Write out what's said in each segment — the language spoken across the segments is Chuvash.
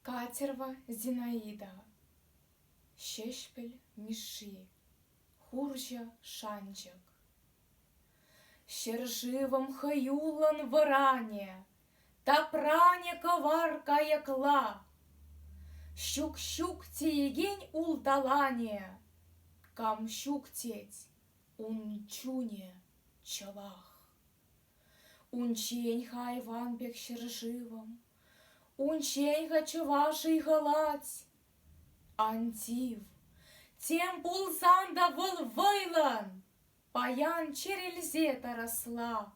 Катерва Зинаидова, Ҫеҫпӗл Мишши, хурҫӑ шанчӑк. Ҫӗршывӑм хӑюллӑн вӑранӗ, тапранӗ кӑвар кайӑкла. Ҫук-ҫук теекен улталанӗ, кам ҫук тет ун чунӗ чӑвах. Унччен-ха айван пек ҫӗршывӑм, Унччен-ха чӑваш ыйхӑлать. Ан тив, тем пулсан та вӑл вӑйлӑн Паян чӗрӗлсе тарасла.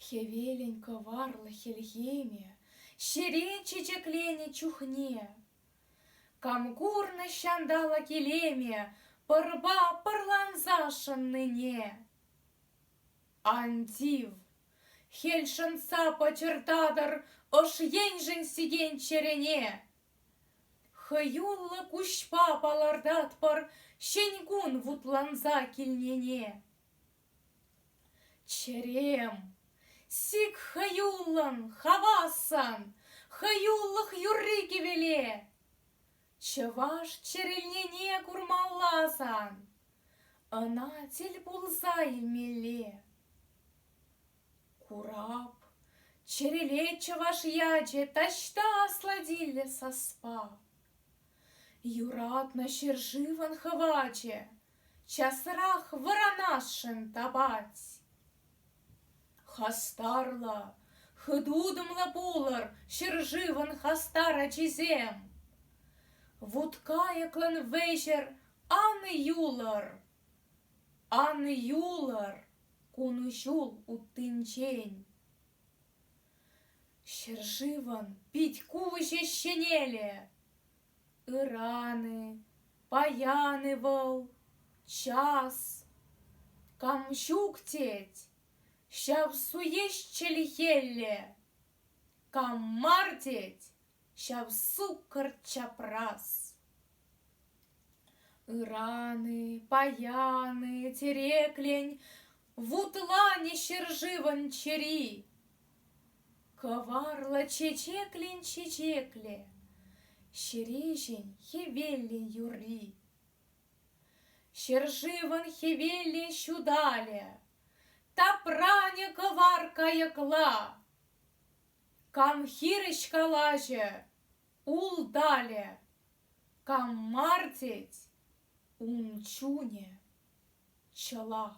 Хӗвелӗн кӑварлӑ хӗлхемӗ Ҫерен чечекленӗ чухне Кам курнӑ ҫанталӑк илемӗ пӑрпа пӑрланса шӑннине? Ан тив, хӗл шӑнса пӑчӑртатӑр ӑш еншӗн сикен чӗрене. Хӑюллӑ куҫпа палӑртатпӑр ҫӗн кун вутланса килнине. Чӗрем, сик хӑюллӑн, хавассӑн, хӑюллӑх юрри-кӗвеле. Чӑваш чӗрӗлнене курмалла-сан, ӑна тӗл пулса илмелле. Курап, чӗрӗлет чӑваш ячӗ таҫта асладиллӗ саспа. Юратнӑ ҫӗршывӑн хӑвачӗ Часрах вӑранасшӑн тапать. Хастарлӑ, хытутӑмлӑ пулӑр ҫӗршывӑн хастар ачисем! Вут кайӑклӑн вӗҫӗр ан юлӑр! Ан юлӑр кун ҫул уттинчен! Ҫӗршывӑн пит-куҫӗ ҫӗнелӗ! Ыран-и, паян-и вӑл, час. Кам ҫук тет, ҫав суеҫ чӗлхелле. Кам мар тет, ҫав суккӑр чапрас. Ыран-и, паян-и, тӗреклен, вутланӗ ҫӗршывӑн чӗри. Кӑварлӑ чечеклин чечеклӗ, Ҫереҫӗн хӗвеллин юрри. Ҫӗршывӑн хӗвеллин ҫуталӗ, Тапранӗ кӑвар кайӑкла. Кам хирӗҫ калаҫӗ, улталӗ, Кам мар тет, ун чунӗ чӑлах.